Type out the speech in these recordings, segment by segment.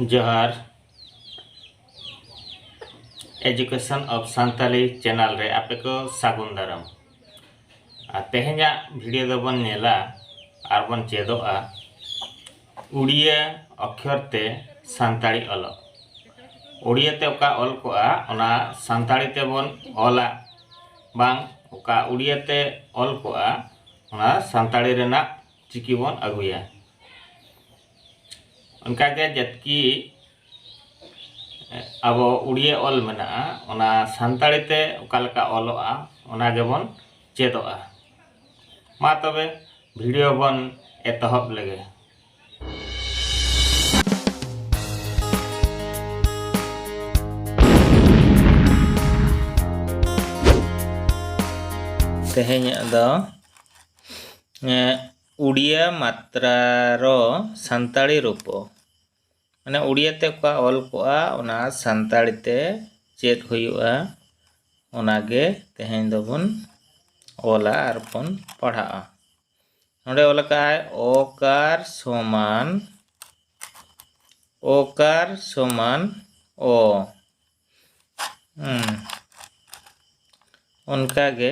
ᱡᱚᱦᱟᱨ education of Santali channel ᱨᱮ ᱟᱯᱮ ᱠᱚ ᱥᱟᱹᱜᱩᱱ ᱫᱟᱨᱟᱢ ᱟᱨ ᱛᱮᱦᱮᱧᱟᱜ ᱵᱷᱤᱰᱤᱭᱳ ᱫᱚᱵᱚᱱ ᱧᱮᱞᱟ ᱟᱨ ᱵᱚᱱ ᱪᱮᱫᱚᱜᱼᱟ ᱩᱲᱤᱭᱟᱹ ᱚᱠᱷᱚᱨ ᱛᱮ ᱥᱟᱱᱛᱟᱲᱤ ᱚᱞᱚᱜ ᱩᱲᱤᱭᱟᱹ ᱛᱮ ᱚᱠᱟ ᱚᱞ ᱠᱚᱜᱼᱟ ᱚᱱᱟ ᱥᱟᱱᱛᱟᱲᱤ ᱛᱮᱵᱚᱱ ᱚᱞᱟ ᱵᱟᱝ ᱚᱠᱟ ᱩᱲᱤᱭᱟᱹ ᱛᱮ ᱚᱞ ᱠᱚᱜᱼᱟ ᱚᱱᱟ ᱥᱟᱱᱛᱟᱲᱤ ᱨᱮᱱᱟᱜ ᱪᱤᱠᱤ ᱵᱚᱱ ᱟᱹᱜᱩᱭᱟ ᱚᱱᱠᱟᱜᱮ ᱡᱟᱛᱠᱤ ᱟᱵᱚ ᱩᱲᱤᱭᱟᱹ ᱚᱞ ᱢᱮᱱᱟᱜᱼᱟ ᱚᱱᱟ ᱥᱟᱱᱛᱟᱲᱤ ᱛᱮ ᱚᱠᱟ ᱞᱮᱠᱟ ᱚᱞᱚᱜᱼᱟ ᱚᱱᱟ ᱜᱮᱵᱚᱱ ᱪᱮᱫᱚᱜᱼᱟ ᱢᱟ ᱛᱚᱵᱮ ᱵᱷᱤᱰᱤᱭᱳ ᱵᱚᱱ ᱮᱛᱚᱦᱚᱵ ᱞᱮᱜᱮ ᱛᱮᱦᱮᱧᱟᱜ ᱫᱚ ᱩᱰᱤᱭᱟ ᱢᱟᱛᱨᱟ ᱨᱚ ᱥᱟᱱᱛᱟᱲᱤ ᱨᱩᱯᱚ ᱢᱟᱱᱮ ᱩᱰᱤᱭᱟ ᱛᱮ ᱚᱠᱟ ᱚᱞ ᱠᱚᱜᱼᱟ ᱚᱱᱟ ᱥᱟᱱᱛᱟᱲᱤ ᱛᱮ ᱪᱮᱫ ᱦᱩᱭᱩᱜᱼᱟ ᱚᱱᱟᱜᱮ ᱛᱮᱦᱮᱧ ᱫᱚᱵᱚᱱ ᱚᱞᱟ ᱟᱨ ᱵᱚᱱ ᱯᱟᱲᱦᱟᱜᱼᱟ ᱱᱚᱰᱮ ᱚᱞ ᱟᱠᱟᱫᱼᱟᱭ ᱚᱠᱟᱨ ᱥᱚᱢᱟᱱ ᱚᱠᱟᱨ ᱥᱚᱢᱟᱱ ᱚ ᱚᱱᱠᱟᱜᱮ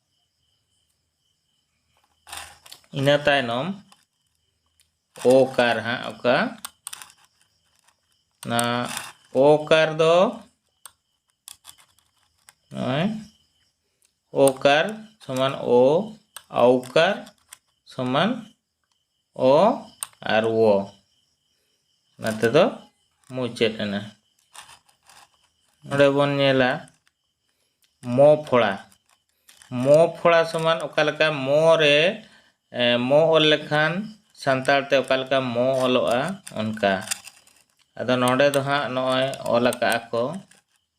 ᱤᱱᱟᱹ ᱛᱟᱭᱱᱚᱢ ᱳ ᱠᱟᱨ ᱦᱟᱸᱜ ᱚᱠᱟ ᱚᱱᱟ ᱳ ᱠᱟᱨ ᱫᱚ ᱱᱚᱜᱼᱚᱭ ᱳ ᱠᱟᱨ ᱥᱚᱢᱟᱱ ᱳ ᱟᱣᱠᱟᱨ ᱥᱚᱢᱟᱱ ᱚ ᱟᱨ ᱣᱚ ᱚᱱᱟ ᱛᱮᱫᱚ ᱢᱩᱪᱟᱹᱫ ᱮᱱᱟ ᱱᱚᱰᱮ ᱵᱚᱱ ᱧᱮᱞᱟ ᱢᱚ ᱯᱷᱚᱲᱟ ᱢᱚ ᱯᱷᱚᱲᱟ ᱥᱚᱢᱟᱱ ᱚᱠᱟ ᱞᱮᱠᱟ ᱢᱚ ᱨᱮ ᱢᱚ ᱚᱞ ᱞᱮᱠᱷᱟᱱ ᱥᱟᱱᱛᱟᱲ ᱛᱮ ᱚᱠᱟ ᱞᱮᱠᱟ ᱢᱚ ᱚᱞᱚᱜᱼᱟ ᱚᱱᱠᱟ ᱟᱫᱚ ᱱᱚᱰᱮ ᱫᱚ ᱦᱟᱸᱜ ᱱᱚᱜᱼᱚᱭ ᱚᱞ ᱟᱠᱟᱜᱼᱟ ᱠᱚ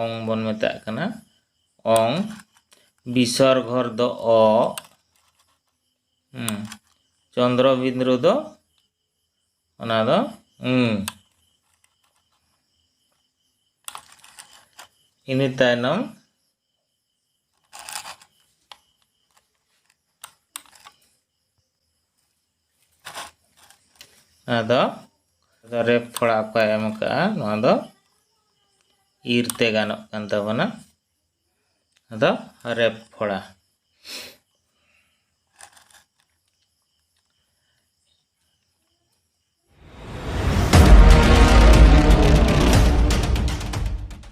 ᱚᱝ ᱵᱚᱱ ᱢᱮᱛᱟᱜ ᱠᱟᱱᱟ ᱚᱝ ᱵᱤᱥᱚᱨ ᱜᱷᱚᱨ ᱫᱚ ᱚ ᱪᱚᱱᱫᱨᱚ ᱵᱤᱸᱫᱨᱩ ᱫᱚ ᱚᱱᱟ ᱫᱚ ᱤᱱᱟᱹ ᱛᱟᱭᱱᱚᱢ ᱟᱫᱚ ᱟᱫᱚ ᱨᱮᱯ ᱛᱷᱚᱲᱟ ᱚᱠᱚᱭ ᱮᱢ ᱠᱟᱜᱼᱟ ᱱᱚᱣᱟ ᱫᱚ ᱤᱨ ᱛᱮ ᱜᱟᱱᱚᱜ ᱠᱟᱱ ᱛᱟᱵᱚᱱᱟ ᱟᱫᱚ ᱨᱮᱯ ᱯᱷᱚᱲᱟ